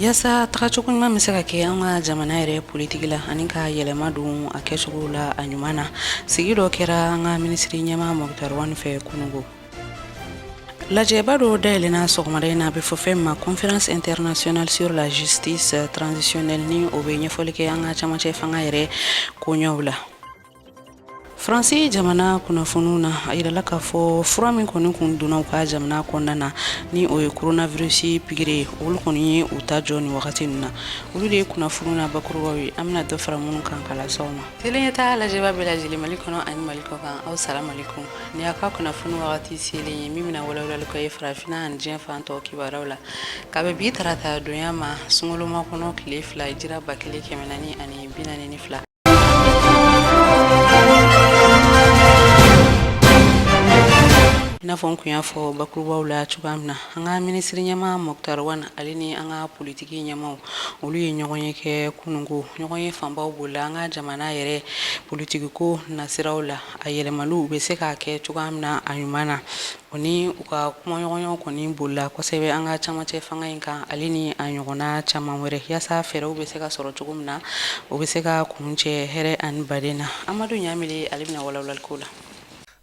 yasa tagacogo ɲuman bɛ se ka kɛ an ka jamana yɛrɛ politiki la ani ka yɛlɛma don a kɛcogo la a ɲuman na sigi dɔ kɛra an ka minisiri ɲɛma mɔkutari wani fɛ kunungo lajɛba dɔ dayɛlɛna sɔgɔmada in na a bɛ fɔ fɛn ma conférence internationale sur la justice transitionnelle ni o bɛ ɲɛfɔli kɛ an ka camancɛ fanga yɛrɛ koɲɛw la faransi jamana kunnafoniw na a yirala k'a fɔ fura min kɔni kun donna u ka jamana kɔnɔna na ni o ye coronavirusi pigiri ye olu kɔni ye u ta jɔ ni wagati ninnu na olu de ye kunnafoniw na bakurubaw ye an bɛna dɔ fara minnu kan ka lase aw ma tele ɲɛtaa lajɛbaa bɛɛ lajɛlen mali kɔnɔ ani mali kɔkan aw salamalekum nin y'a ka kunnafoni wagati selen ye min bɛna walawalali k'aw ye farafinna ani diɲɛ fan tɔw kibaruyaw la ka bɛn bi tarata donya ma sunkalo makɔnɔ tile fila hijira ba kelen kɛmɛ naani ani bi naani ni fila i n'a fɔ n kun y'a fɔ bakurubaw la cogoya min na an ka minisiri ɲɛma mɔkutari wan ale ni an ka politiki ɲɛmaw olu ye ɲɔgɔnye kɛ kunungo ɲɔgɔnye fanbaw bolila an ka jamana yɛrɛ politikiko nasiraw la a yɛlɛmaliw bɛ se ka kɛ cogoya min na a ɲuman na O ni u ka kumaɲɔgɔnyaw kɔni bolila kosɛbɛ an ka camancɛ fanga in kan ale ni a ɲɔgɔnna caman wɛrɛ yasa fɛɛrɛw bɛ se ka sɔrɔ cogo min na o bɛ se ka kuncɛ hɛrɛ ani baden na amadu ɲamile ale bɛna walawalali k'o la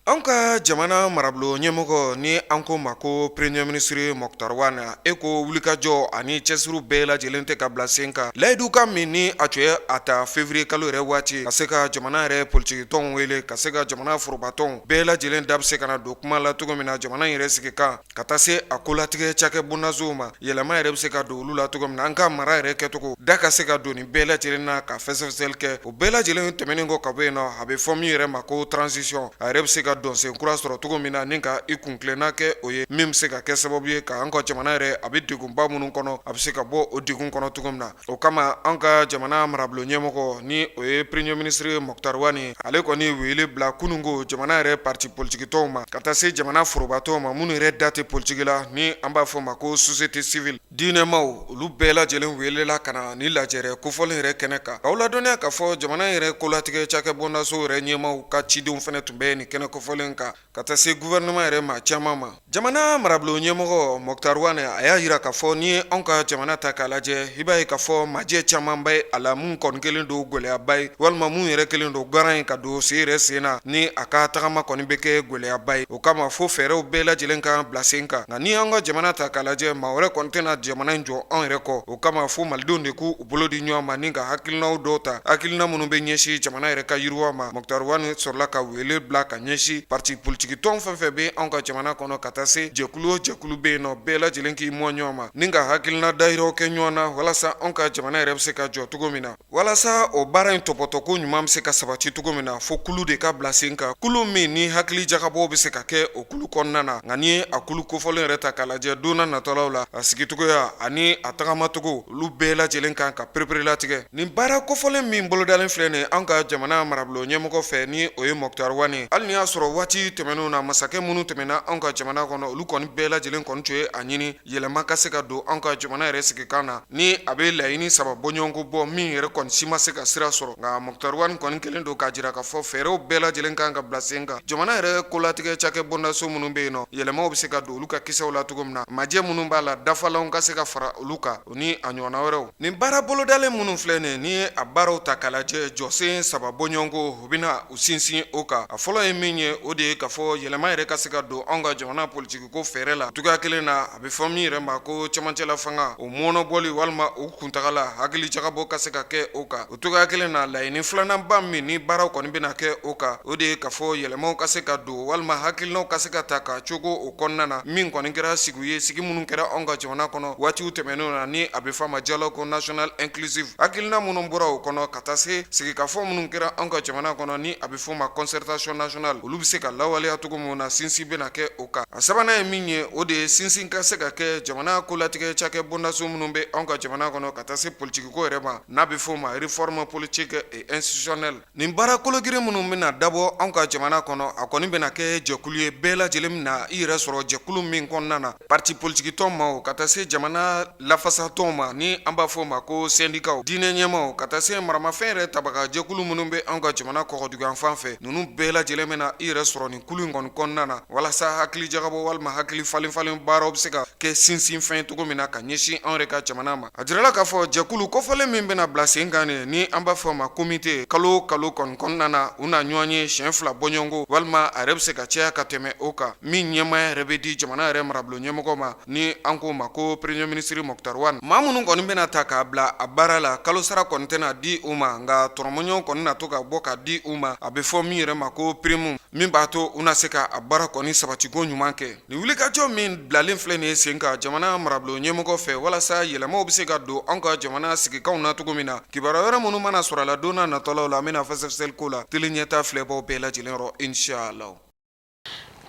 an ka jamana marabolo ɲɛmɔgɔ ni an k'o ma ko premier ministre mɔkutari wane ko wulikajɔ ani cɛsiri bɛɛ lajɛlen tɛ ka bila sen kan layidukan min ni a tun y'a ta février kalo yɛrɛ waati ka se ka jamana yɛrɛ politikitɔnw wele ka se ka jamana forobatɔn bɛɛ lajɛlen da bɛ se ka na don kuma la cogo min na jamana yɛrɛ sigikan ka taa se a kolatigɛ cakɛ bondasow ma yɛlɛma yɛrɛ bɛ se ka don olu la cogo min na an ka mara yɛrɛ kɛcogo da ka se ka don nin bɛɛ lajɛlen na ka fɛsɛfɛsɛli kɛ o bɛɛ lajɛlen tɛmɛnen kɔ ka bɔ yen nɔ a bɛ fɔ min yɛrɛ ma ko transition a yɛrɛ bɛ se ka donsen kura sɔrɔ cogo min na ni ka i kuntilenna kɛ o ye min bɛ se ka kɛ sababu ye ka an ka jamana yɛrɛ a bɛ degunba minnu kɔnɔ a bɛ se ka bɔ o degun kɔnɔ cogo min na O kama an ka jamana marabolo ɲɛmɔgɔ ni o ye premier ministre mɔkutari wani ale kɔni wele bila kunungo jamana yɛrɛ parti politikitɔnw ma ka taa se jamana forobatɔnw ma minnu yɛrɛ da tɛ politiki la ni an b'a fɔ ma ko société civile diinɛmaaw olu bɛɛ lajɛlen welela ka na nin lajɛrɛ kofɔlen yɛrɛ kɛnɛ kan k'aw ladɔnniya k'a fɔ jamana yɛrɛ kolatigɛ cakɛ bondaso yɛrɛ ɲɛmaw ka cidenw fɛnɛ tun bɛ nin kɛnɛ kofɔlen kan Ka taa se gouvernement yɛrɛ maa caman ma jamana marabolo ɲɛmɔgɔ Mɔkutari Wane a y'a yira k'a fɔ n'i ye anw ka jamana ta k'a lajɛ i b'a ye k'a fɔ majɛ caman bɛ a la minnu kɔni kɛlen don gɛlɛyaba ye walima minnu yɛrɛ kɛlen don garan ye ka don sen yɛrɛ sen na ni a ka tagama kɔni bɛ kɛ gɛlɛyaba ye o kama fo fɛɛrɛw bɛɛ lajɛlen ka kan bila sen kan nka n'i y'an ka jamana ta k'a lajɛ maa wɛrɛ kɔni tɛna jamana in jɔ anw yɛrɛ kɔ o kama fo malidenw de k'u bolo di ɲɔgɔn ma ni ka hakilinaw dɔw ta hakilina minnu bɛ ɲɛsin jamana yɛrɛ ka yiriwa ma Moctar Ouane sɔrɔla ka wele bila ka ɲɛsin pati politikitɔn fɛn fɛn bɛ anw ka jamana kɔnɔ ka taa se jɛkulu o jɛkulu bɛ yen nɔ bɛɛ lajɛlen k'i mɔn ɲɔgɔn ma ni ka hakilina dayira kɛ ɲɔgɔn na walasa anw ka jamana yɛrɛ bɛ se ka jɔ cogo min na walasa o baara in tɔpɔtɔko ɲuman bɛ se ka sabati cogo min na fo kulu de ka bila sen kan kulu min ni hakili jagabɔw bɛ se ka kɛ o kulu kɔnɔna na nka n'i ye a kulu kofɔlen yɛrɛ ta k'a lajɛ donna natɔlaw la a sigicogoya ani a tagamacogo olu bɛɛ lajɛlen kan ka pereperelatigɛ nin baara kofɔlen min bolodalen filɛ nin an ka jamana marabolo ɲɛmɔgɔ fɛ ni o ye Moctar Ouane ye hali n'i y'a sɔrɔ waati tɛmɛnenw na masakɛ minnu tɛmɛna an ka jamana kɔnɔ olu kɔni bɛɛ lajɛlen kɔni tun ye a ɲini yɛlɛma ka se ka don an ka jamana yɛrɛ sigikan na ni a bɛ laɲini saba bɔɲɔgɔnko bɔ min yɛrɛ kɔni si ma se ka sira sɔrɔ nka Moctar Ouane kɔni kelen don k'a jira k'a fɔ fɛɛrɛw bɛɛ lajɛlen kan ka bila sen kan jamana yɛrɛ kolatigɛ cakɛ bondaso minnu bɛ yen nɔ yɛlɛmaw bɛ se ka don olu ka kisɛw la cogo min na majɛ minnu b'a la dafalanw ka se ka fara olu kan o ni a ɲɔgɔnna wɛrɛw nin baara bolodalen minnu filɛ nin ye n'i ye a baaraw ta k'a lajɛ jɔsen saba bɔɲɔgɔnko u bɛna u sinsin o kan a fɔlɔ ye min ye o de ye k'a fɔ yɛlɛma yɛrɛ ka se ka don anw ka jamana politikiko fɛɛrɛ la cogoya kelen na a bɛ fɔ min yɛrɛ ma ko cɛmancɛla fanga o mɔnɔbɔli walima u kuntagala hakili jagabɔ ka se ka kɛ o kan o cogoya kelen na laɲini filananba min ni baaraw kɔni bɛna kɛ o kan o de ye k'a fɔ yɛlɛmaw ka se ka don walima hakilinaw ka se ka ta ka cogo o kɔnɔna na min kɔni kɛra sigi ye sigi minnu kɛra anw ka jamana kɔnɔ waatiw tɛmɛnenw na ni a bɛ fɔ a ma dialogue national inclusif hakilina minnu bɔra o kɔnɔ ka taa se sigikafɔ minnu kɛra anw ka jamana kɔnɔ ni a bɛ fɔ ma concertation nationale olu bɛ se ka lawaleya cogo min na sinsin bɛna kɛ o kan a sabanan ye min ye o de ye sinsin ka se ka kɛ jamana kolatigɛ cakɛ bondaso minnu bɛ anw ka jamana kɔnɔ ka taa se politikiko yɛrɛ ma n'a bɛ f'o ma réforme politique et institutionnelle nin baara kolo girin minnu bɛna dabɔ anw ka jamana kɔnɔ, a kɔni bɛna kɛ jɛkulu ye bɛɛ lajɛlen bɛna i yɛrɛ sɔrɔ jɛkulu min kɔnɔna na, partis politiques tɔn maaw ka taa se jamana lafasa tɔnw ma, ni an b'a fɔ o ma ko syndicat diinɛ ɲɛmaw ka taa se maramafɛn yɛrɛ tabagajɛkulu minnu bɛ anw ka jamana kɔkɔdugu yanfan fɛ, ninnu bɛɛ lajɛlen bɛna i yɛrɛ sɔrɔ nin kulu in kɔni kɔnɔna na, walasa hakilijagabɔ walima hakili falen-falen baaraw bɛ se ka kɛ sinsinfɛn ye cogo min na ka ɲɛsin anw yɛrɛ ka jamana ma. A jirala k'a fɔ jɛkulu kofɔlen min bɛna bila sen kan ni an b'a fɔ a ma komite kalo kalo kɔni kɔnɔna na u na ɲɔgɔn ye siɲɛ fila bɔɲɔgɔnko walima a yɛrɛ bɛ se ka caya ka tɛmɛ o kan min ɲɛmaaya yɛrɛ bɛ di jamana yɛrɛ marabolo ɲɛmɔgɔ ma ni an k'o ma ko premier ministre Moctar Ouane maa minnu kɔni bɛna ta k'a bila a baara la kalo sara kɔni tɛna di u ma nka tɔrɔmɔɲɔgɔn kɔni na to ka bɔ ka di u ma a bɛ fɔ min yɛrɛ ma ko prime min b'a to u na se ka a baara kɔni sabatiko ɲuman kɛ Nin wulikajɔ min bilalen filɛ nin ye sen kan jamana marabolo ɲɛmɔgɔ fɛ walasa yɛlɛmaw bɛ se ka don an ka jamana sigikanw na cogo min na, kibaruya wɛrɛ minnu mana sɔrɔ a la don n'a natɔlaw la, an bɛna fɛsɛfɛsɛli k'o la tele ɲɛtaa filɛbaaw bɛɛ lajɛlen yɔrɔ inshallah.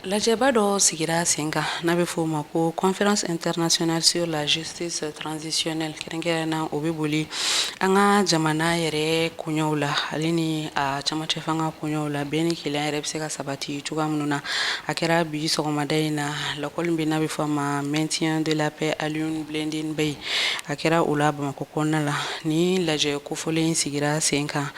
Lajɛba dɔ sigira sen kan n'a bɛ f'o ma ko Conférence internationale sur la justice Justice transitionnelle kɛrɛnkɛrɛn na o bɛ boli an ka jamana yɛrɛ koɲɛw la ale ni a camancɛ fanga koɲɛw la bɛn ni kelenya yɛrɛ bɛ se ka sabati cogoya minnu na a kɛra bi sɔgɔmada in na lakɔli min n'a bɛ fɔ a ma maintien de la paix Alioune Blondin Beye a kɛra o la bamakɔ kɔnɔna la ni lajɛ kofɔlen sigira sen kan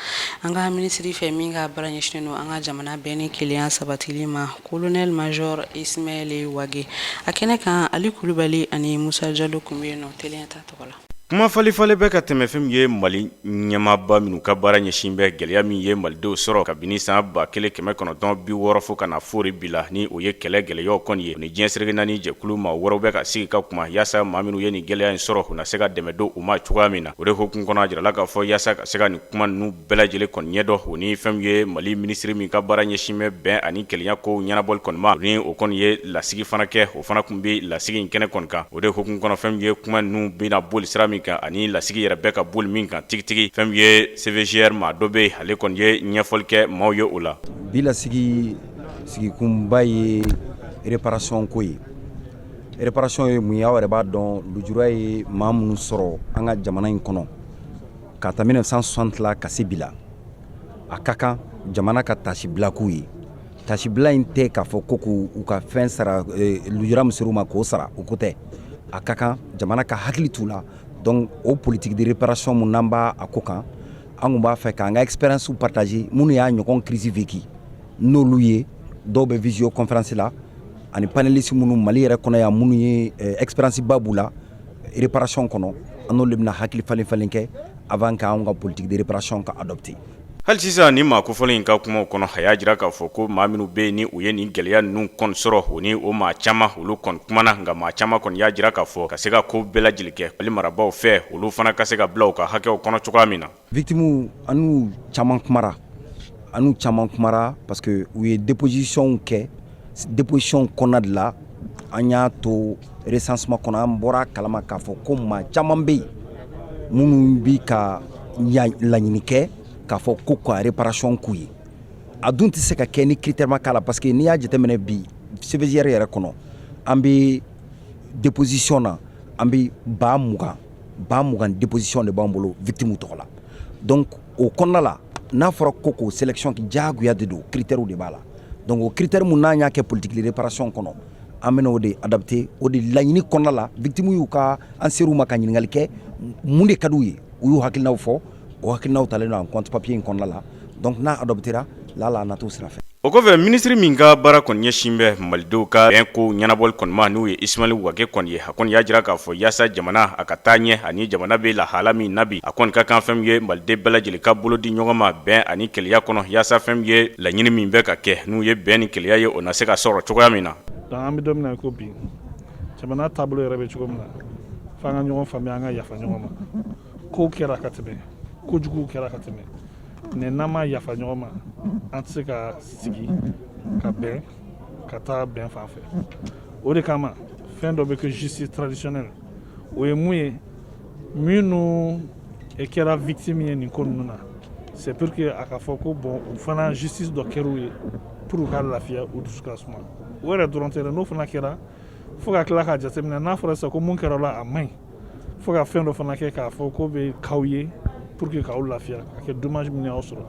an ka minisiri fɛ min ka baara ɲɛsinnen don an ka jamana bɛn ni kelenya sabatili ma Colonel major Ismaël Wagué a kɛnɛ kan ali kulubali ani musa jalo tun bɛ yen nɔ t ta tɔgɔ la kuma falenfalen bɛ ka tɛmɛ fɛn min ye mali ɲɛmaaba minnu ka baara ɲɛsin bɛ gɛlɛya min ye malidenw sɔrɔ kabini san ba kelen kɛmɛ kɔnɔntɔn bi wɔɔrɔ fo ka na foori bi la ni o ye kɛlɛ gɛlɛyaw kɔni ye u ni diɲɛ seleke naani jɛkulu maa wɛrɛw bɛ ka sigi ka kuma yaasa maa minnu ye nin gɛlɛya in sɔrɔ u na se ka dɛmɛ don u ma cogoya min na o de hukumu kɔnɔ a jirala k'a fɔ yaasa ka se ka nin kuma ninnu bɛɛ lajɛlen kɔni ɲɛdɔn o ni fɛn min ye mali minisiri min ka baara ɲɛsin bɛ bɛn ani kelenya kow ɲɛnabɔli kɔni ma ni o kɔni ye lasigi fana kɛ o fana tun bɛ lasigi in kɛnɛ kɔni kan o de hukumu kɔnɔ fɛn min ye kuma ninnu bɛna boli sira min kan ani lasigi yɛrɛ bɛ ka boli min kan tigitigi fɛn min ye CVJR maa dɔ bɛ ale kɔni ye ɲɛfɔli kɛ maaw ye o la bi lasigi sigikunba ye réparation ko ye réparation ye mun ye aw yɛrɛ b'a dɔn lujura ye maa minnu sɔrɔ an ka jamana in kɔnɔ K'a ta mille neuf cent soixante la ka se bi la a ka kan jamana ka tasibila k'u ye tasibila in tɛ k'a fɔ ko k'u ka fɛn sara lujura min ser'u ma k'o sara o ko tɛ a ka kan jamana ka hakili t'u la donc o politique de réparation min n'an b'a ko kan an tun b'a fɛ k'an ka expériences partager minnu y'a ɲɔgɔn crise vécu n'olu ye dɔw bɛ visioconférence la ani panéliste minnu mali yɛrɛ kɔnɔ yan minnu ye expérience ba b'u la réparation kɔnɔ an n'olu bɛna hakili falenfalen kɛ avant k'an ka politique de réparation ka adopter hali sisan nin maa kofɔlen in ka kumaw kɔnɔ a y'a jira k'a fɔ ko maa minnu bɛ yen ni u ye nin gɛlɛya ninnu kɔni sɔrɔ o ni o maa caman olu kɔni kumana nka maa caman kɔni y'a jira k'a fɔ ka se ka ko bɛɛ lajɛlen kɛ mali marabaaw fɛ olu fana ka se ka bila u ka hakɛw kɔnɔ cogoya min na Victimes an n'u caman kumara, an n'u caman kumara parce que u ye dépositions kɛ dépositions kɔnɔna de la, an y'a to recensement kɔnɔ, an bɔra a kalama k'a fɔ ko maa caman bɛ yen minnu bɛ ka laɲini kɛ k'a fɔ ko ka réparation k'u ye, a dun tɛ se ka kɛ ni critère ma k'a la parce que n'i y'a jateminɛ bi CVJR yɛrɛ kɔnɔ, an bɛ déposition na an bɛ 20000 ba mugan déposition de b'an bolo victimes tɔgɔ la donc o kɔnɔna la n'a fɔra ko k'o sélection diyagoya de don critères de b'a la donc o critère min n'an y'a kɛ politique de réparation kɔnɔ an bɛna o de adapter o de laɲini kɔnɔna la victimes y'u ka an ser'u ma ka ɲininkali kɛ mun de ka di u ye u y'u hakilinaw fɔ O hakilinaw talen don en compte papier in kɔnɔna la donc n'a adoptéra la a na t'o sira fɛ. O kɔfɛ minisiri min ka baara kɔni ɲɛsin bɛ malidenw ka bɛn kow ɲɛnabɔli kɔni ma n'o ye Ismail Wage kɔni ye, a kɔni y'a jira k'a fɔ yaasa jamana a ka taa ɲɛ ani jamana bɛ lahala min na bi, a kɔni ka kan fɛn min ye maliden bɛɛ lajɛlen ka bolo di ɲɔgɔn ma bɛn ani keleya kɔnɔ yaasa fɛn min ye laɲini min bɛ ka kɛ n'o ye bɛn ni keleya ye o na se ka sɔrɔ cogoya min na. Donc an bɛ don min na i ko bi, jamana taabolo yɛrɛ bɛ cogo min na, f'an ka ɲɔgɔn faamuya an ka yafa ɲɔgɔn ma. kow kɛra ka tɛmɛ kojuguw kɛra ka tɛmɛ n'an ma yafa ɲɔgɔn ma an tɛ se ka sigi ka bɛn ka taa bɛn fan fɛ o de kama fɛn dɔ bɛ kɛ justice traditionnelle o ye mun ye minnu kɛra victime ye nin ko ninnu na c'est pour que a ka fɔ ko bon u fana justice dɔ kɛr'u ye pour u ka lafiya u dusu ka suma o yɛrɛ dɔrɔn tɛ dɛ n'o fana kɛra fo ka tila k'a jateminɛ n'a fɔra sisan ko mun kɛra o la a man ɲi fo ka fɛn dɔ fana kɛ k'a fɔ ko bɛ k'aw ye pour que k'aw lafiya ka kɛ dommage min y'aw sɔrɔ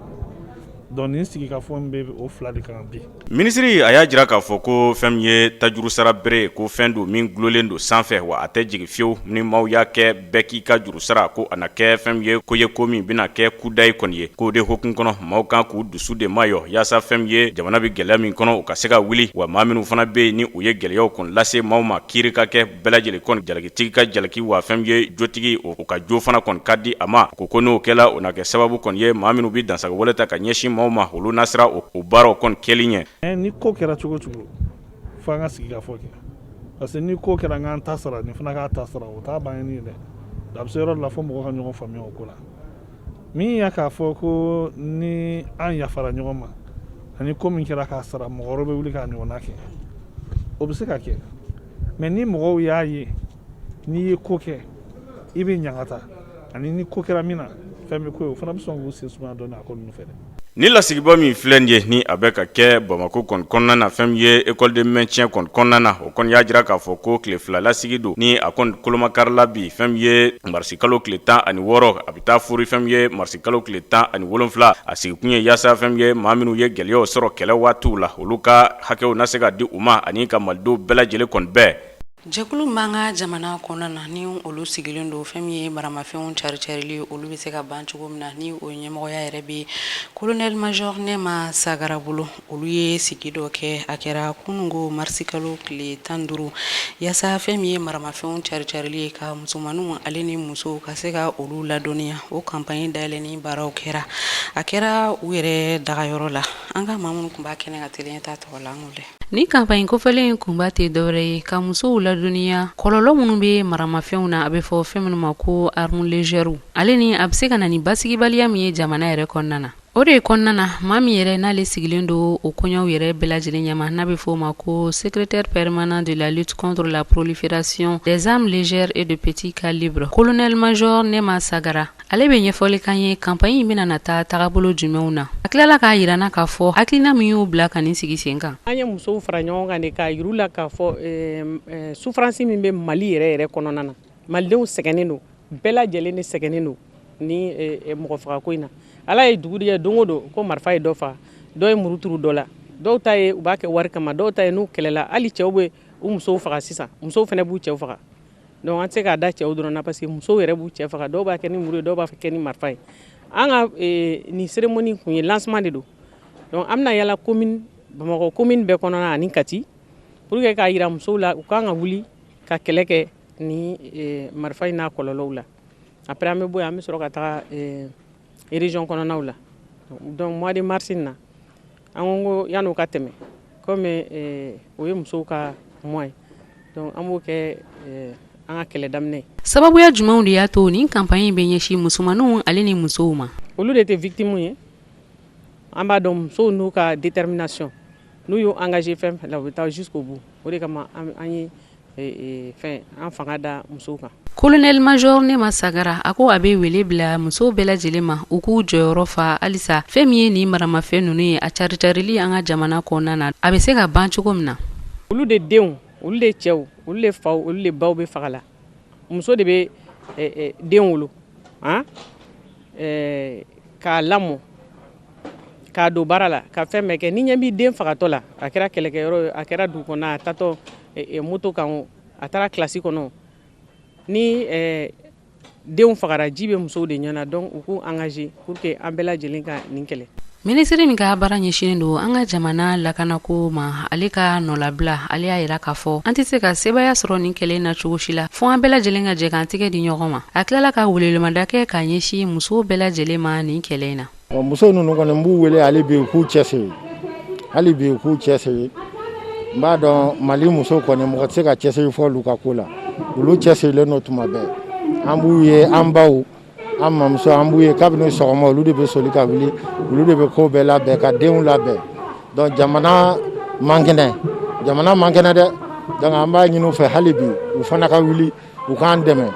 donc nin sigi ka fɔ bɛ o fila de kan bi minisiri a y'a jira k'a fɔ ko fɛn min ye tajuru sara bere ko fɛn don min dulolen don sanfɛ wa a tɛ jigin fiyewu ni maaw y'a kɛ bɛɛ k'i ka juru sara ko a na kɛ fɛn min ye ko ye ko min bɛna kɛ kudayi kɔni ye k'o de hukumu kɔnɔ maaw kan k'u dusu de mayɔ yaasa fɛn min ye jamana bɛ gɛlɛya min kɔnɔ o ka se ka wuli wa maa minnu fana bɛ yen ni u ye gɛlɛyaw kɔni lase maaw ma kiiri ka kɛ bɛɛ lajɛlen kɔni jalakitigi ka jalaki wa fɛn min ye jotigi o ka jo fana kɔni ka di a ma ko ko n'o kɛra o na kɛ sababu kɔni ye maa minnu bɛ dansagon wale ta ka ɲɛsin maaw ma olu na siran o baaraw kɔni kɛli ɲɛ ni ko kɛra cogo cogo fo an ka sigi ka fɔ kɛ parce que ni ko kɛra an ta sara nin fana k'a ta sara o t'a bannen ye dɛ a bɛ se yɔrɔ la fo mɔgɔ ka ɲɔgɔn faamuya o ko la min y'a k'a fɔ ko ni an yafara ɲɔgɔn ma ani ko min kɛra k'a sara mɔgɔ wɛrɛ bɛ wuli k'a ɲɔgɔn kɛ o bɛ se ka kɛ mais ni mɔgɔw y'a ye n'i ye ko kɛ i bɛ ɲangata ani ni ko kɛra min na fɛn bɛ k'o ye o fana bɛ sɔn k'u sen sumaya dɔɔni a ko ninnu fɛ dɛ Ni lasigiba min filɛ nin ye ni a bɛ ka kɛ Bamakɔ kɔni kɔnɔna na fɛn min ye école de maintien kɔni kɔnɔna na o kɔni y'a jira k'a fɔ ko tile fila lasigi don ni a kɔni kolomakarila bi fɛn min ye marisi kalo tile tan ani wɔɔrɔ a bɛ taa foori fɛn min ye marisi kalo tile tan ani wolonwula a sigikun ye yaasa fɛn min ye maa minnu ye gɛlɛyaw sɔrɔ kɛlɛ waatiw la olu ka Hakɛw na se ka di u ma ani ka malidenw bɛɛ lajɛlen kɔni bɛn jɛkulu b'an ka jamana kɔnɔna na ni olu sigilen don fɛn min ye maramafɛnw cari-carili olu bɛ se ka ban cogo min na ni o ɲɛmɔgɔya yɛrɛ bɛ colonel major Nema Sagara bolo olu ye sigi dɔ kɛ a kɛra kununko marisikalo tile tan duuru yaasa fɛn min ye maramafɛnw cari-carili ye ka musomanninw ale ni musow ka se ka olu ladɔniya o campagne dayɛlɛni baaraw kɛra a kɛra u yɛrɛ dagayɔrɔ la an ka maa minnu tun b'a kɛnɛ kan teliya ta tɔgɔ la an k'o lajɛ nin campagne kofɔlen in kunba tɛ dɔwɛrɛ ye ka musow ladɔnniya kɔlɔlɔ minnu bɛ maramafɛnw na a bɛ fɔ fɛn minnu ma ko armes légères ale ni a bɛ se ka na ni basigibaliya min ye jamana yɛrɛ kɔnɔna na o de kɔnɔna na maa min yɛrɛ n'ale sigilen don o koɲɛw yɛrɛ bɛɛ lajɛlen ɲɛma n'a bɛ fɔ o ma ko secrétaire permanent de la lutte contre la prolifération des armes légères et de petits calibres colonel major nema sagara Ale bɛ ɲɛfɔli k'an ye campagne in bɛna na taa tagabolo jumɛnw na a tilala k'a jira an na k'a fɔ hakilina min y'u bila ka nin sigi sen kan an ye musow fara ɲɔgɔn kan de k'a yir'u la k'a fɔ souffrance min bɛ mali yɛrɛ yɛrɛ kɔnɔna na malidenw sɛgɛnnen don bɛɛ lajɛlen de sɛgɛnnen don ni mɔgɔ fagako in na ala ye dugu jɛ don o don ko marifa ye dɔ faga dɔ ye muru turu dɔ la dɔw ta ye u b'a kɛ wari kama dɔw ta ye n'u kɛlɛla hali cɛw bɛ u musow faga sisan musow fana b'u cɛw faga Donc an tɛ se k'a da cɛw dɔrɔn na parce que musow yɛrɛ b'u cɛ faga dɔw b'a kɛ ni muru ye dɔw b'a kɛ ni marifa ye an ka nin cérémonie kun ye lancement de don donc an bɛna yala commune bamakɔ commune bɛɛ kɔnɔ ani kati pour que k'a jira musow la u ka kan ka wuli ka kɛlɛ kɛ ni marifa in n'a kɔlɔlɔw la après an bɛ bɔ yen an bɛ sɔrɔ ka taa région kɔnɔnaw la donc mois de mars in na an ko yanni o ka tɛmɛ komi o ye musow ka mois ye donc an b'o kɛ an ka kɛlɛ daminɛ sababuya jumɛnw de y'a to nin campagne bɛ ɲɛsin musomanninw ale ni musow ma olu de tɛ victime ye an b'a dɔn musow n'u ka détermination n'u y'u engagé fɛn fɛn la u bɛ taa jusqu'au bout o de kama an ye Colonel major nema sagara a ko a bɛ wele bila musow bɛɛ lajɛlen ma u k'u jɔyɔrɔ fa halisa fɛn min ye nin maramafɛn ninnu ye a caricarili an ka jamana kɔnɔna na a bɛ se ka ban cogo min na olu de denw olu de cɛw olu de faw olu de baw bɛ faga la muso de bɛ den wolo k'a lamɔ k'a don baara la ka fɛn bɛɛ kɛ n'i ɲɛ b'i den fagatɔ la a kɛra kɛlɛkɛyɔrɔ ye a kɛra dugu kɔnɔ a taatɔ moto kan o a taara kilasi kɔnɔ ni denw fagara ji bɛ musow de ɲɛ na donc u k'u engagé pour que an bɛɛ lajɛlen ka nin kɛlɛ minisiri min ka baara ɲɛsinnen don an ka jamana lakana ko ma ale ka nɔlabila ale y'a jira k'a fɔ an tɛ se ka sebaaya sɔrɔ nin kɛlɛ in na cogo si la fo an bɛɛ lajɛlen ka jɛ k'an tɛgɛ di ɲɔgɔn ma a tilala ka welewelemada kɛ k'a ɲɛsin musow bɛɛ lajɛlen ma nin kɛlɛ in na muso ninnu kɔni n b'u wele hali bi u k'u cɛsiri hali bi u k'u cɛsiri n b'a dɔn mali muso kɔni mɔgɔ tɛ se ka cɛsiri fɔ olu ka ko la olu cɛsirilen don tuma bɛɛ an b'u ye an baw an mamuso an b'u ye kabini sɔgɔma olu de bɛ soli ka wuli olu de bɛ ko bɛɛ labɛn ka denw labɛn donc jamana man kɛnɛ jamana man kɛnɛ dɛ donc an b'a ɲini u fɛ hali bi u fana ka wuli u k'an dɛmɛ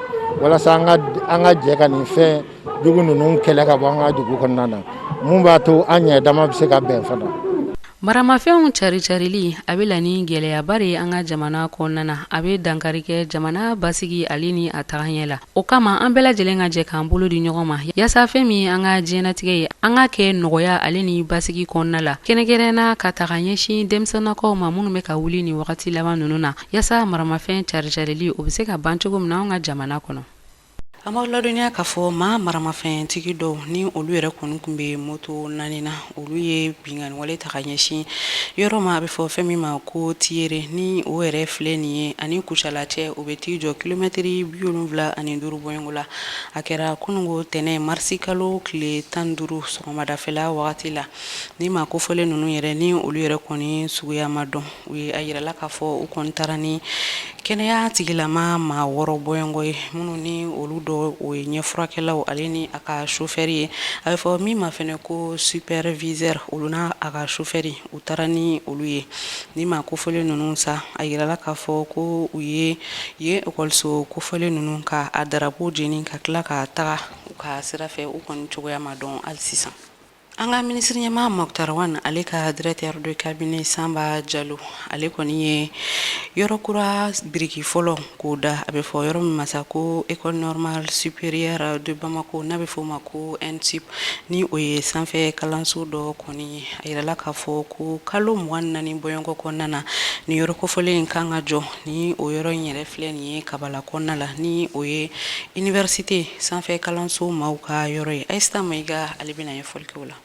walasa an ka jɛ ka nin fɛn jugu ninnu kɛlɛ ka bɔ an ka dugu kɔnɔna na mun b'a to an ɲɛ dama bɛ se ka bɛn fana maramafɛnw cari-carili a bɛ la ni gɛlɛyaba ye an ka jamana kɔnɔna na a bɛ dankari kɛ jamana basigi ale ni a tagaɲɛ la o kama an bɛɛ lajɛlen ka jɛ k'an bolo di ɲɔgɔn ma yaasa fɛn min an ka diɲɛnatigɛ ye an ka kɛ nɔgɔya ale ni basigi kɔnɔna la kɛrɛnkɛrɛnna ka taga ɲɛsin denmisɛnnakaw ma minnu bɛ ka wuli ni wagati laban ninnu na yaasa maramafɛn cari-carili o bɛ se ka ban cogo min na an ka jamana kɔnɔ an b'aw ladɔnniya k'a fɔ maa maramafɛntigi dɔw ni olu yɛrɛ kɔni tun bɛ moto naani na olu ye binkanniwale ta ka ɲɛsin yɔrɔ ma a bɛ fɔ fɛn min ma ko tiyere ni o yɛrɛ filɛ nin ye ani kucala cɛ o bɛ t'i jɔ kilomɛtiri bi wolonwula ani duuru bɔɲɔgɔnko la a kɛra kununko tɛnɛ marisi kalo tile tan duuru sɔgɔmadafɛla wagati la ni maa kofɔlen ninnu yɛrɛ ni olu yɛrɛ kɔni suguya ma dɔn u ye a yirala k'a fɔ u kɔni taara ni kɛnɛya tigilama maa wɔɔrɔ bɔɲɔgɔnko ye minnu ni olu dɔ o ye ɲɛfurakɛlaw ale ni a ka sofɛri ye a bɛ fɔ min ma fɛnɛ ko superviseur olu n'a a ka sofɛri u taara ni olu ye ni maa kofɔlen ninnu sa a yirala k'a fɔ ko u ye yen ekɔliso kofɔlen ninnu ka a darapo jeni ka tila ka taga u ka sira fɛ u kɔni cogoya ma dɔn hali sisan an ka minisiriɲɛmaa Moctar Ouane ale ka directeur de cabinet Sanba Jalo ale kɔni ye yɔrɔ kura biriki fɔlɔ k'o da a bɛ fɔ yɔrɔ min ma sa ko école normale supérieure de Bamako n'a bɛ f'o ma ko ENSUP ni o ye sanfɛ kalanso dɔ kɔni ye a yirala k'a fɔ ko kalo mugan ni naani bɔɲɔgɔnko kɔnɔna na ni yɔrɔ kofɔlen in kan ka jɔ ni o yɔrɔ in yɛrɛ filɛ nin ye kabala kɔnɔna la ni o ye université sanfɛ kalanso maaw ka yɔrɔ ye Ayisata Mayiga ale bɛna ɲɛfɔli kɛ o la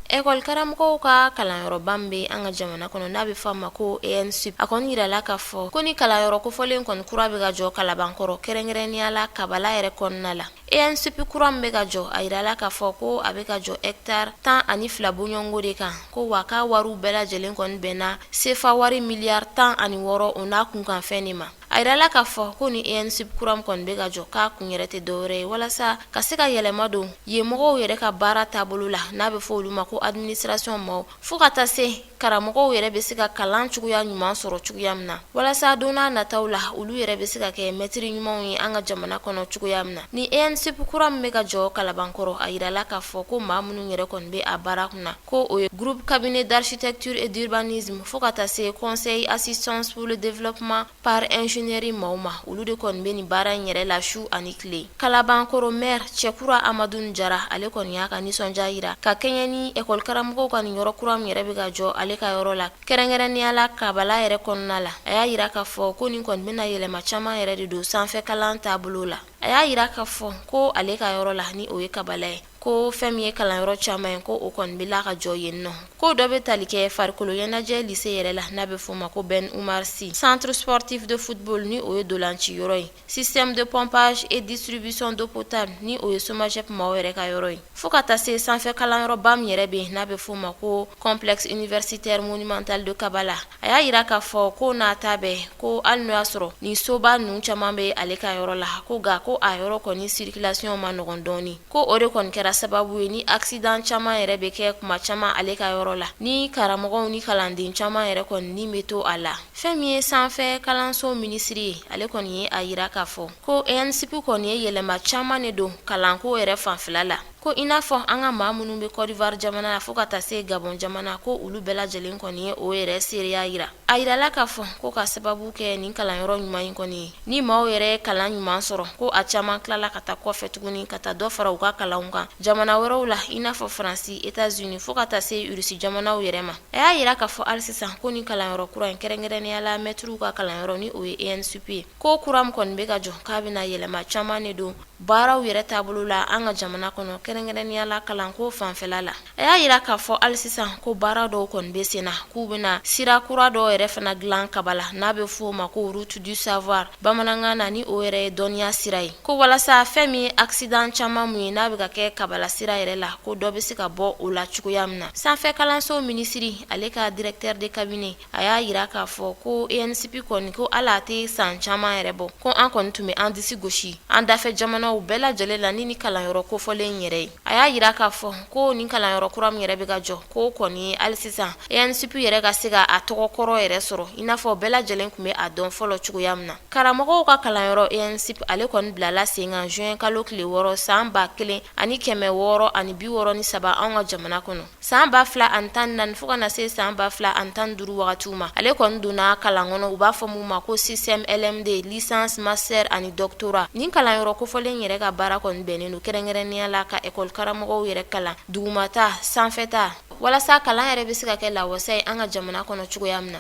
Ekɔli karamɔgɔw ka kalanyɔrɔba min bɛ an ka jamana kɔnɔ n'a bɛ fɔ a ma ko ENSUP a kɔni yirala k'a fɔ ko ni kalanyɔrɔ kofɔlen kɔni kura bɛ ka jɔ Kalabankɔrɔ kɛrɛnkɛrɛnnenya la Kabala yɛrɛ kɔnɔna la ENSUP kura min bɛ ka jɔ a yirala k'a fɔ ko a bɛ ka jɔ hectare tan ani fila bɔɲɔgɔnko de kan ko wa k'a wariw bɛɛ lajɛlen kɔni bɛnna sefa wari miliyari tan ani wɔɔrɔ o n'a kunkanfɛn de ma a yirala k'a fɔ ko ni ENSUP kura min kɔni bɛ ka jɔ k'a kun yɛrɛ tɛ dɔwɛrɛ ye walasa ka se ka yɛlɛma don yen mɔgɔw yɛrɛ ka baara taabolo la n'a bɛ fɔ olu ma ko administration maaw fo ka taa se karamɔgɔw yɛrɛ bɛ se ka kalan cogoya ɲuman sɔrɔ cogoya min na walasa don n'a nataw la olu yɛrɛ bɛ se ka kɛ mɛtiri ɲumanw ye an ka jamana kɔnɔ cogoya min na ni ENSUP kura min bɛ ka jɔ Kalabankɔrɔ a yirala k'a fɔ ko maa minnu yɛrɛ kɔni bɛ a baara kunna ko o ye groupe cabinet d'architecture et d'urbanisme fo ka taa se conseil assistance pour le développement par ingénierie maaw ma olu de kɔni bɛ nin baara in yɛrɛ la su ani tile kalabankɔrɔ maire cɛkura amadun jara ale kɔni y'a ka nisɔndiya yira ka kɛɲɛ ni ekɔli karamɔgɔw ka nin yɔrɔ kura min yɛrɛ bɛ ka jɔ ale ka yɔrɔ la kɛrɛnkɛrɛnnenya la kabala yɛrɛ kɔnɔna la a y'a yira k'a fɔ ko nin kɔni bɛna yɛlɛma caman yɛrɛ de don sanfɛ kalan taabolo la a y'a yira k'a fɔ ko ale ka yɔrɔ la ni o ye kabala ye ko fɛn min ye kalanyɔrɔ caman ye ko o kɔni bɛ la ka jɔ yen nɔ ko dɔ bɛ tali kɛ farikolo ɲɛnajɛ lise yɛrɛ la n'a bɛ f'o ma ko Ben Oumar Sy centre sportif de football ni o ye dolanci yɔrɔ ye système de pompage et distribution d'eau potable ni o ye SOMAGEP maaw yɛrɛ ka yɔrɔ ye fo ka taa se sanfɛ kalanyɔrɔba min yɛrɛ bɛ yen n'a bɛ f'o ma ko complexe universitaire monumental de Kabala a y'a yira k'a fɔ ko n'a ta bɛɛ ko hali n'o y'a sɔrɔ nin soba ninnu caman bɛ ale ka yɔrɔ la ko nka ko a yɔrɔ kɔni circulation man nɔgɔn dɔɔni ko o de kɔni kɛra sababu ye ni accident caman yɛrɛ bɛ kɛ tuma caman ale ka yɔrɔ la ni karamɔgɔw ni kalanden caman yɛrɛ kɔni ni bɛ to a la fɛn min ye sanfɛ kalanso minisiri ye ale kɔni ye a yira k'a fɔ ko ENSUP kɔni ye yɛlɛma caman de don kalanko yɛrɛ fanfɛla la Ko i n'a fɔ an ka maa minnu bɛ Côte d'Ivoire jamana la fo ka taa se gabon jamana ko olu bɛɛ lajɛlen kɔni ye o yɛrɛ seereya yira a yirala k'a fɔ ko ka sababu kɛ nin kalanyɔrɔ ɲuman in kɔni ye ni maaw yɛrɛ kalan ɲuman sɔrɔ ko a caman tilala ka taa kɔfɛ tuguni ka taa dɔ fara u ka kalanw kan jamana wɛrɛw la i n'a fɔ faransi États-Unis fo ka taa se irisi jamanaw yɛrɛ ma a y'a yira k'a fɔ hali sisan ko nin kalanyɔrɔ kura in kɛrɛnkɛrɛnnenya la mɛtiriw ka kalanyɔrɔ ni o ye ENSUP ye ko kura min kɔni bɛ ka jɔ k'a bɛna yɛlɛma caman de don baaraw yɛrɛ taabolo la an ka jamana kɔnɔ kɛrɛnkɛrɛnnenya la kalanko fanfɛla la a y'a yira k'a fɔ hali sisan ko baara dɔw kɔni bɛ sen na k'u bɛna sira kura dɔw yɛrɛ fana dilan kabala n'a bɛ f'o ma ko route du savoir bamanankan na ni o yɛrɛ ye dɔnniya sira ye ko walasa fɛn min ye accident caman mun ye n'a bɛ ka kɛ kabala sira yɛrɛ la ko dɔ bɛ se ka bɔ o la cogoya min na sanfɛ kalanso minisiri ale ka directeur de cabinet a y'a yira k'a fɔ ko ENSUP kɔni ko hali a tɛ san caman yɛrɛ bɔ ko an kɔni tun bɛ an disi gosi an dafɛ jamanaw bɛɛ lajɛlen la ni nin kalanyɔrɔ kofɔlen yɛrɛ ye a y'a yira k'a fɔ ko nin kalanyɔrɔ kura min yɛrɛ bɛ ka jɔ ko o kɔni hali sisan ENSUP yɛrɛ ka se ka a tɔgɔ kɔrɔ yɛrɛ sɔrɔ i n'a fɔ bɛɛ lajɛlen tun bɛ a dɔn fɔlɔ cogoya min na karamɔgɔw ka kalanyɔrɔ ENSUP ale kɔni bilala sen kan juin kalo tile wɔɔrɔ san ba kelen ani kɛmɛ wɔɔrɔ ani bi wɔɔrɔ ni saba an ka jamana kɔnɔ san ba fila ani tan ni naani fo ka na se san ba fila ani tan ni duuru wagatiw ma ale kɔni donna kalan kɔnɔ u b'a fɔ min ma ko système LMD licence master ani doctorat nin kalanyɔrɔ kofɔlen yɛrɛ ka baara kɔni bɛnnen don kɛrɛnkɛrɛnnenya la ka ekɔli karamɔgɔw yɛrɛ kalan dugumata sanfɛta walasa kalan yɛrɛ bɛ se ka kɛ lawasa ye an ka jamana kɔnɔ cogoya min na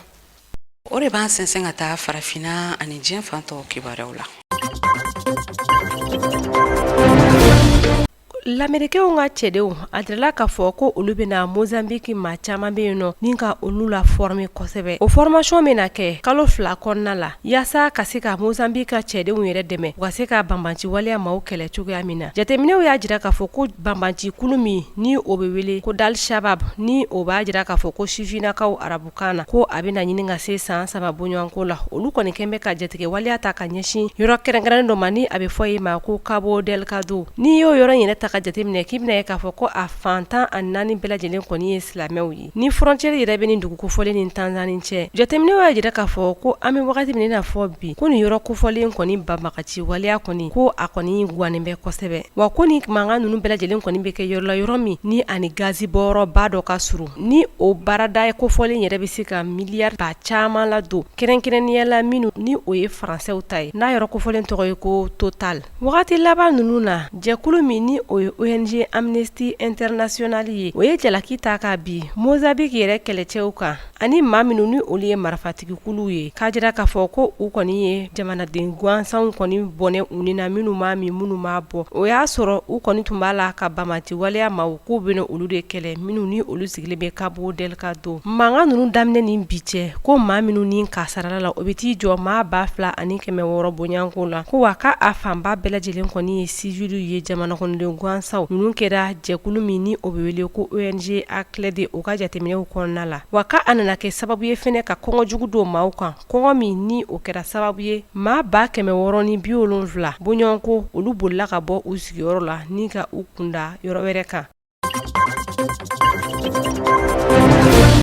o de b'an sɛnsɛn ka taa farafinna ani diɲɛ fan tɔw kibaruyaw la Lamerikɛw ka cɛdenw a jirala k'a fɔ ko olu bɛna Mozambique maa caman bɛ yen nɔ ni ka olu lafɔrɔme kosɛbɛ o formation bɛna kɛ kalo fila kɔnɔna la yaasa ka se ka Mozambique ka cɛdenw yɛrɛ dɛmɛ u ka se ka banbanci waleya maaw kɛlɛ cogoya min na jateminɛw y'a jira k'a fɔ ko banbancikulu min ni o bɛ wele ko d'Al-Shabab ni o b'a jira k'a fɔ ko sifinakaw arabu kan na ko a bɛna ɲini ka se san saba bɔɲɔgɔnko la olu kɔni kɛlen bɛ ka jatigɛ waleya ta ka ɲɛsin yɔrɔ kɛrɛnkɛrɛnnen dɔ ma ni a bɛ fɔ ye ma ko Cabo Delgado n'i y'o yɔrɔ yɛrɛ ta ka jateminɛ k'i bɛna ye k'a fɔ ko a fan tan ani naani bɛɛ lajɛlen kɔni ye silamɛw ye ni frontière yɛrɛ bɛ nin dugu kofɔlen ni tanzani cɛ jateminɛw y'a jira k'a fɔ ko an bɛ wagati min na fɔ bi ko nin yɔrɔ kofɔlen kɔni banbagaci waleya kɔni ko a kɔni gannen bɛ kosɛbɛ wa ko ni mankan ninnu bɛɛ lajɛlen kɔni bɛ kɛ yɔrɔ la yɔrɔ min ni a ni gazi bɔyɔrɔba dɔ ka surun Ni o baarada ye kofɔlen yɛrɛ bɛ se ka miliyari ba caman ladon kɛrɛnkɛrɛnnenya la minnu ni o ye faransɛw ta ye n'a yɛrɛ kofɔlen tɔgɔ ye ko Total wagati laban ninnu na jɛkulu min ni o ye ONG Amnesty International ye o ye jalaki ta ka bin Mozambique yɛrɛ kɛlɛcɛw kan ani maa minnu ni olu ye marifatigikulu ye k'a jira k'a fɔ ko u kɔni ye jamanaden gansanw kɔni bɔnɛ u ni na minnu m'a min minnu m'a bɔn o y'a sɔrɔ u kɔni tun b'a la ka banbanci waleya ma K'u bɛna olu de kɛlɛ minnu ni olu sigilen bɛ Cabo Delgado mankan ninnu daminɛ ni bi cɛ ko maa minnu ni kasarala la o bɛ t'i jɔ maa ba fila ani kɛmɛ wɔɔrɔ bɔɲɔgɔnko la ko wa k' a fanba bɛɛ lajɛlen kɔni ye siwiliw ye jamana kɔnɔden gansanw ninnu kɛra jɛkulu min ni o bɛ wele ko ONG ACLED o ka jateminɛw kɔnɔna la wa k' a nana kɛ sababu ye fɛnɛ ka kɔngɔ jugu don maaw kan kɔngɔ min ni o kɛra sababu ye maa ba kɛmɛ wɔɔrɔ ni bi wolonfila bɔɲɔgɔnko olu bolila ka bɔ u sigi sigiyɔrɔ la ni ka u kunda yɔrɔ wɛrɛ kan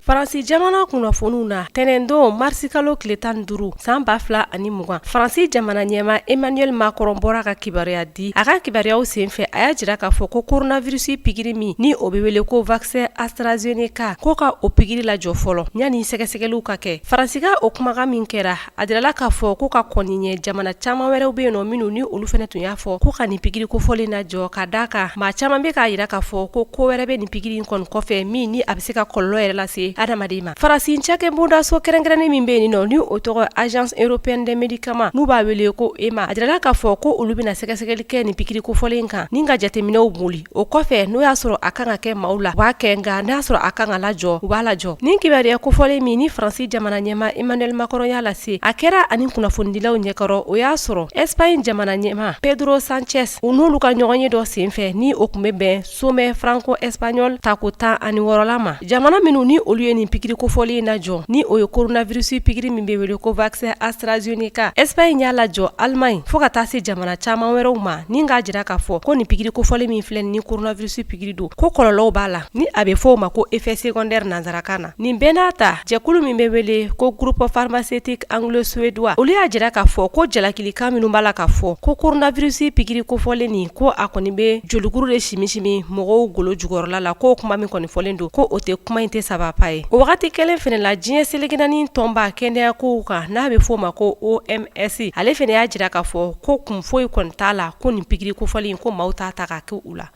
faransi jamana kunnafoniw na tɛnɛndon marisikalo tile tan duuru san ba fila ani mugan faransi jamana ɲɛma emmanuel macron bɔra ka kibaruya di a ka kibaruyaw sen fɛ a y'a jira k'a fɔ ko coronavirisi pigiri min ni o bɛ wele ko vaksɛn astrazeneca ko ka o pigiri lajɔ fɔlɔ yanni sɛgɛsɛgɛliw ka kɛ faransi ka o kumakan min kɛra A jirala k'a fɔ ko ka kɔn nin ɲɛ jamana caman wɛrɛw bɛ yen nɔ minnu ni olu fɛnɛ tun y'a fɔ ko ka nin pikiri kofɔlen in lajɔ ka d'a kan maa caman bɛ k'a jira k'a fɔ ko ko wɛrɛ bɛ nin pikiri in kɔni kɔfɛ min ni a bɛ se ka kɔlɔlɔ yɛrɛ lase hadamaden ma Faransi cakɛbondaso kɛrɛnkɛrɛnnen min bɛ yen nɔ ni o tɔgɔ agence européenne des médicaments n'u b'a wele ko EMA a jirala k'a fɔ ko olu bɛna sɛgɛsɛgɛli kɛ nin pikiri kofɔlen in kan ni ka jateminɛw boli o kɔfɛ n'u y'a sɔrɔ a kan ka kɛ maaw la u b'a kɛ nka n'a y'a sɔrɔ a kan ka lajɔ u b'a lajɔ nin kibaruya kofɔlen min ni faransi jamana ɲɛma Emmanuel Macron y'a lase a kɛra a ni kunnafonidilaw ɲɛkɔrɔ o y'a sɔrɔ Espagne jamana ɲɛma Pedro Sanchez u n'olu ka ɲɔgɔnye dɔ senfɛ ni o tun bɛ bɛn sommet franco-espagnol tako tan ani wɔɔrɔla ma Jamana minnu ni olu ye nin pigiri kofɔlen in lajɔ ni o ye koronavirisi pigiri min bɛ wele ko vaccin AstraZeneca Espagne y'a lajɔ Allemagne fo ka taa se jamana caman wɛrɛw ma ni k'a jira k'a fɔ ko nin pigiri kofɔlen min filɛ ni koronavirisi pigiri don ko kɔlɔlɔw b'a la ni a bɛ fɔ o ma ko effet secondaire nanzarakan na nin bɛɛ n'a ta jɛkulu min bɛ wele ko groupe pharmaceutique anglo-suédois olu y'a jira k'a fɔ ko jalakilikan minnu b'a la k'a fɔ ko koronavirisi pigiri kofɔlen nin ko a kɔni bɛ jolikuru de simisimi mɔgɔw golo jukɔrɔla la ko kuma min kɔni fɔlen don ko o tɛ kuma in tɛ saba pa ye o wagati kelen fɛnɛ la diɲɛ seleke naani tɔnba kɛnɛyakow kan n'a bɛ f'o ma ko OMS ale fɛnɛ y'a jira k'a fɔ ko kun foyi kɔni t'a la ko nin pigiri kofɔlen ko maaw t'a ta ka kɛ u la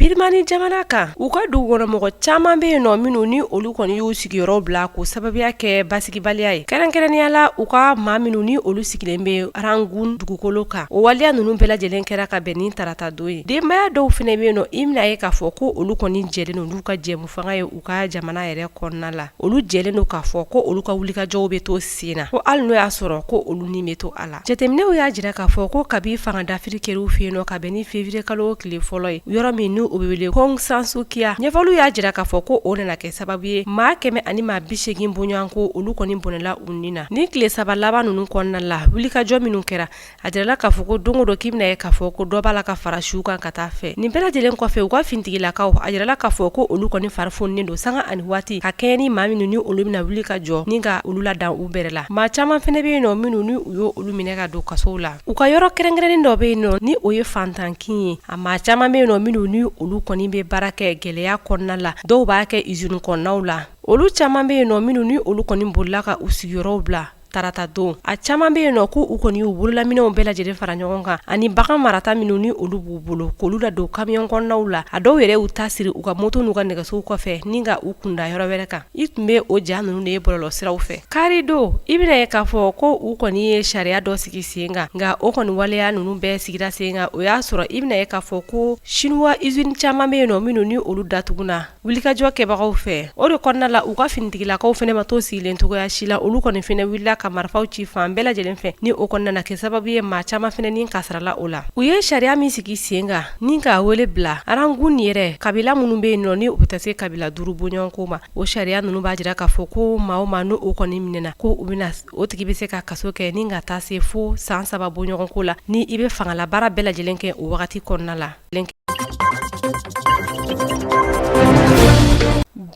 birimani jamana kan u ka dugukɔnɔmɔgɔ caman bɛ yen nɔ minnu ni olu kɔni y'u sigiyɔrɔ bila k'o sababuya kɛ basigibaliya ye kɛrɛnkɛrɛnnenya la u ka maa minnu ni olu sigilen bɛ Rangoon dugukolo kan o waleya ninnu bɛɛ lajɛlen kɛra ka bɛn ni tarata don ye denbaya dɔw fɛnɛ bɛ yen nɔ i bɛna ye k'a fɔ ko olu kɔni jɛlen don n'u ka jɛmu fanga ye u ka jamana yɛrɛ kɔnɔna la olu jɛlen don k'a fɔ ko olu ka wulikajɔw bɛ to sen na ko hali n'o y'a sɔrɔ ko olu ni bɛ to a la jateminɛw y'a jira k'a fɔ ko kabi fanga dafiri kɛr'u fɛ yen nɔ ka bɛn ni février kalo tile fɔlɔ ye yɔrɔ min ni o bɛ wele ko Aung San Suu Kyi a ɲɛfɔliw y'a jira k'a fɔ ko o nana kɛ sababu ye maa kɛmɛ ani maa bisegin bɔɲɔgɔnko olu kɔni bɔnɛla na ni tile saba laban ninnu kɔnɔna la wulikajɔ minnu kɛra a jirala k'a fɔ ko don o don k'i bɛna ye k'a fɔ ko dɔ b'a la ka fara suw kan ka taa fɛ nin bɛɛ lajɛlen kɔfɛ u ka finitigilakaw a jirala k'a fɔ ko olu kɔni fari fununen don sanga ani waati ka kɛɲɛ ni maa minnu ni olu bɛna wuli ka jɔ ni ka olu la dan u bɛrɛ la maa caman fɛnɛ bɛ yen nɔ minnu ni u y' olu minɛ ka don kasow la u ka yɔrɔ kɛrɛnkɛrɛnnen dɔ bɛ yen nɔ ni o ye fantankin ye a maa caman bɛ yen nɔ minnu ni olu kɔni bɛ baara kɛ gɛlɛya kɔnɔna la dɔw b'a kɛ izini kɔnɔnaw la olu caman bɛ yen nɔ minnu ni olu kɔni bolila ka u sigiyɔrɔw bila tarata don a caman bɛ yen nɔ ko u kɔni y'u bololaminɛnw bɛɛ lajɛlen fara ɲɔgɔn kan ani bagan marata minnu ni olu b'u bolo k'olu ladon kamiyɔn kɔnɔnaw la a dɔw yɛrɛ y'u ta siri u ka moto n'u ka nɛgɛsow kɔfɛ ni ka u kunda yɔrɔ wɛrɛ kan i tun bɛ o ja ninnu de ye bɔlɔlɔ siraw fɛ kari don i bɛna ye k'a fɔ ko u kɔni ye sariya dɔ sigi sen kan nka o kɔni waleya ninnu bɛɛ sigira sen kan o y'a sɔrɔ i bɛna ye k'a fɔ ko siniwa izini caman bɛ yen nɔ minnu ni olu datuguna wulikajɔ kɛbagaw fɛ o de kɔnɔna la u ka finitigilakaw fɛnɛ ma to sigilen cogoya si la olu kɔni fɛnɛ wulila ka marifaw ci fan bɛɛ lajɛlen fɛ ni o kɔni nana kɛ sababu ye maa caman fɛnɛ ni kasaarala o la u ye sariya min sigi sen kan ni k'a wele bila Rangoon ni yɛrɛ kabila minnu bɛ yen nɔ ni u bɛ taa se kabila duuru bɔɲɔgɔnko ma o sariya ninnu b'a jira k'a fɔ ko maa o maa n'o kɔni minɛna ko u bɛna o tigi bɛ se ka kaso kɛ ni ka taa se fo san saba bɔɲɔgɔnko la ni i bɛ fangala baara bɛɛ lajɛlen kɛ o wagati kɔnɔna la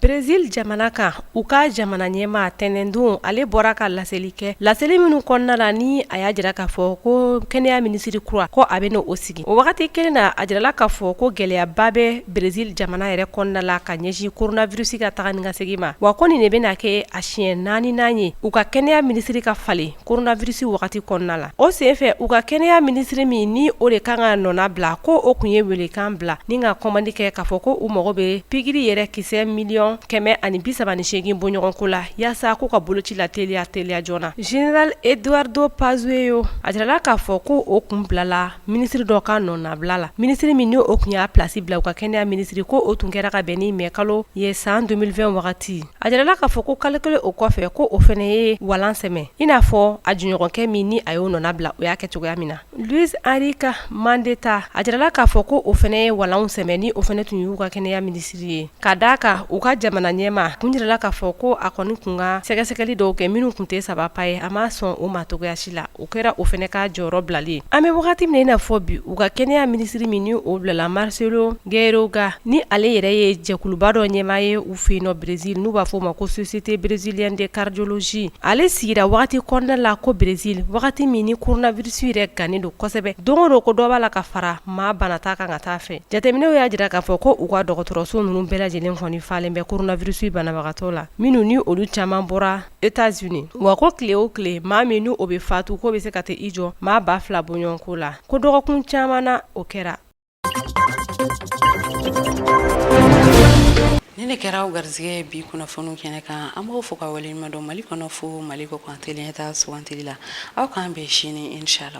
Brezil jamana kan u ka jamana ɲɛma tɛnɛndon ale bɔra ka laseli kɛ laseli minnu kɔnɔna la ni a y'a jira k'a fɔ ko kɛnɛya minisiri kura ko a bɛn'o sigi o wagati kelen na a jirala k'a fɔ ko gɛlɛyaba bɛ brezil jamana yɛrɛ kɔnɔna la ka ɲɛsin koronavirisi ka taga ni ka segin ma wa ko nin de bɛna kɛ a siɲɛ naaninan ye u ka kɛnɛya minisiri ka falen koronavirisi wagati kɔnɔna la o senfɛ u ka kɛnɛya minisiri min ni o de kan ka nɔna bila ko o kun ye welekan bila ni ka kɔmandi kɛ k'a fɔ ko u mago bɛ pikiri yɛrɛ kisɛ miliyɔn kɛmɛ ani bisaba ni segin bɔɲɔgɔnko la yaasa k'u ka boloci lateliya teliya joona zenerali Eduardo Pazuello a jirala k'a fɔ ko o kun bilala minisiri dɔ ka nɔnabila la minisiri min ni o kun y'a plasi bila u ka kɛnɛya minisiri ko o tun kɛra ka bɛn ni mɛ kalo ye san deux mille vingt wagati A jirala k'a fɔ ko kalo kelen o kɔfɛ ko o fɛnɛ ye walan sɛmɛ i n'a fɔ a jɛɲɔgɔnkɛ min ni a y'o nɔna bila o y'a kɛ cogoya min na Luiz Henrique Mandetta a jirala k'a fɔ ko o fɛnɛ ye walan sɛmɛ ni o fɛnɛ tun y'u ka kɛnɛya minisiri ye ka d' a kan u ka jamana ɲɛma kun jirala k'a fɔ ko a kɔni kun ka sɛgɛsɛgɛli dɔw kɛ minnu kun tɛ saba pa ye a ma sɔn o ma cogoya si la O kɛra o fɛnɛ ka jɔyɔrɔ bilalen an bɛ wagati min na i n'a fɔ bi u ka kɛnɛya minisiri min ni o bilala Marcelo Queiroga ni ale yɛrɛ ye jɛkuluba dɔ ɲɛmaa ye u fɛ yen nɔ Brezil n'u b'a fɔ o ma ko Société brésilienne de cardiologie ale sigira wagati kɔnɔna la ko Brezil wagati min ni koronavirisi yɛrɛ gannen don kosɛbɛ don o don ko dɔ b'a la ka fara maa banata kan ka taa fɛ jateminɛw y'a jira k'a fɔ ko u ka dɔgɔtɔrɔso ninnu bɛɛ lajɛlen kɔni falen bɛ koronavirusi banabagatɔ la minnu ni olu caman bɔra États-Unis wa ko tile o tile maa min n' o bɛ fatu ko bɛ se ka taa i jɔ maa ba fila bɔɲɔgɔnko la ko dɔgɔkun caman na o kɛra nin ne kɛra aw garisigɛ bi kunnafoni kɛnɛ kan an b'aw fo ka waleɲumandɔn mali kɔnɔ fo mali kɔkan tele ɲɛtaa sugandili la aw k'an bɛn sini inshalla